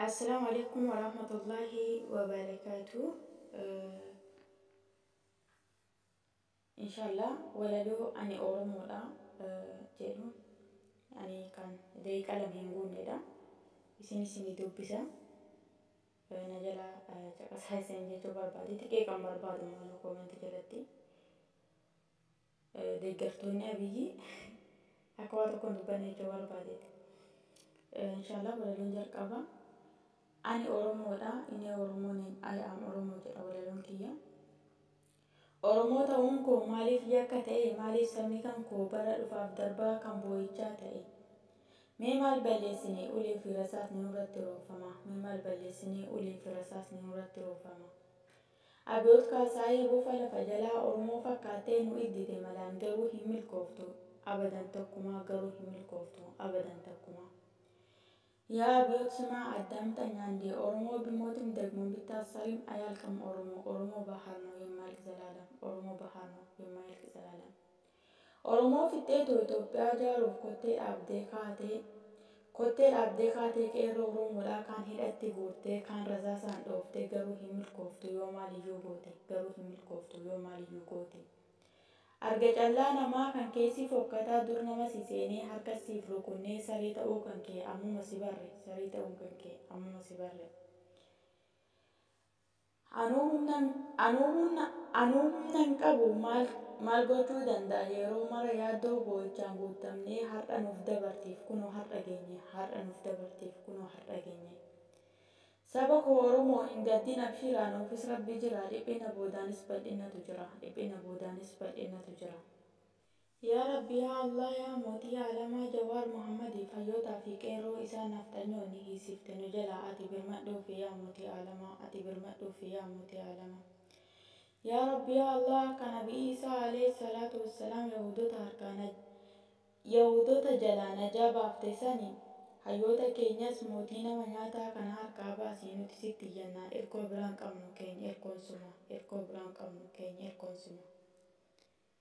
Assalaamu alaikum warahmatullaahi wabarakaatu. Inshaallah walaloo ani Oromoodha jedhu ani kan daqiiqaa lama hin guunnedha. Isin isinii dubbisa. Na jala caqasaa isin jechuu barbaade xiqqee kan barbaadu immoo koomentii jalatti. Deeggartoonni Abiyyi akka waa tokko hin dubbanne jechuu barbaadeeti. Inshaallah walaloon jalqabaa ani Oromoodha inni Oromoo name I am Oromoo jedha walaloon kiyya. Oromoo ta'uun koo maaliif yakka ta'e maaliif sabni kan koo bara dhufaaf darbaa kan boo'ichaa ta'e. Mee maal balleessine ulee fi rasaasni nurratti roobfama mee maal balleessine ulee fi rasaasni nurratti roobfama. Abiyoot Kaasaayii bofa lafa jalaa Oromoo fakkaattee nu iddite malaan garuu hin milkooftu abadan takkumaa garuu hin milkooftu abadan takkumaa. Yaa Abiyoot Simaa Addaam Xanyaandee Oromoo Bimootim Dagmoom Bittaassarim Ayaalqam Oromoo Oromoo Bahaar Noo Yemmaayalq Zalaalam Oromoo Bahaar Noo Yemmaayalq Zalaalam. Oromoo fixxeetoo Itoophiyaa ijaaruuf kottee dhaabdee kaatee Kottee dhaabdee kaatee Qeerroo Oromoodhaa kaan hidhatti guurtee kaan rasaasaan dhooftee Garuu hin milkooftuu yoo maaliyyuu goote Garuu hin milkooftuu yoo maaliyyuu goote Arga callaa namaa kan kee si fokkataa Dur nama si seenee harkas siif rukunnee Saree ta'uu kan kee ammuma si barre Saree ta'uun kan kee ammuma si barre. Anuu humna Anuu humna Anuu humna hin qabu maal maal gochuu danda'a yeroo mara yaaddoo boo'ichaan guuttamnee har'a nuuf dabarteef kunoo har'a geenye har'a nuuf dabarteef kunoo har'a geenye Saba koo Oromoo hin gaddin abshiraa nuufis Rabbi jira dhiphina boodaanis bal'innatu jira dhiphina boodaanis bal'innatu jira. Yaa Rabbi yaa Allaah yaa mootii aalamaa Jawaar Mohammadi fayyootaa fi qeerroo isaa nafxanyoo ni hiisifte nu jalaa ati birmadhuufi yaa mootii aalamaa ati birmadhuufi yaa mootii aalamaa Yaa Rabbi yaa Allaah akka nabi Iisaa aleyh salaatu wassalaam yahuudota harkaa naj yahuudota jalaa najaa baafte sani hayyoota keenyas mootii nama nyaataa kana harkaa baasi nuti sitti iyyannaa irkoo biraa hin qabnu keenya irkoon suma irkoo biraa hin qabnu keenya irkoon suma.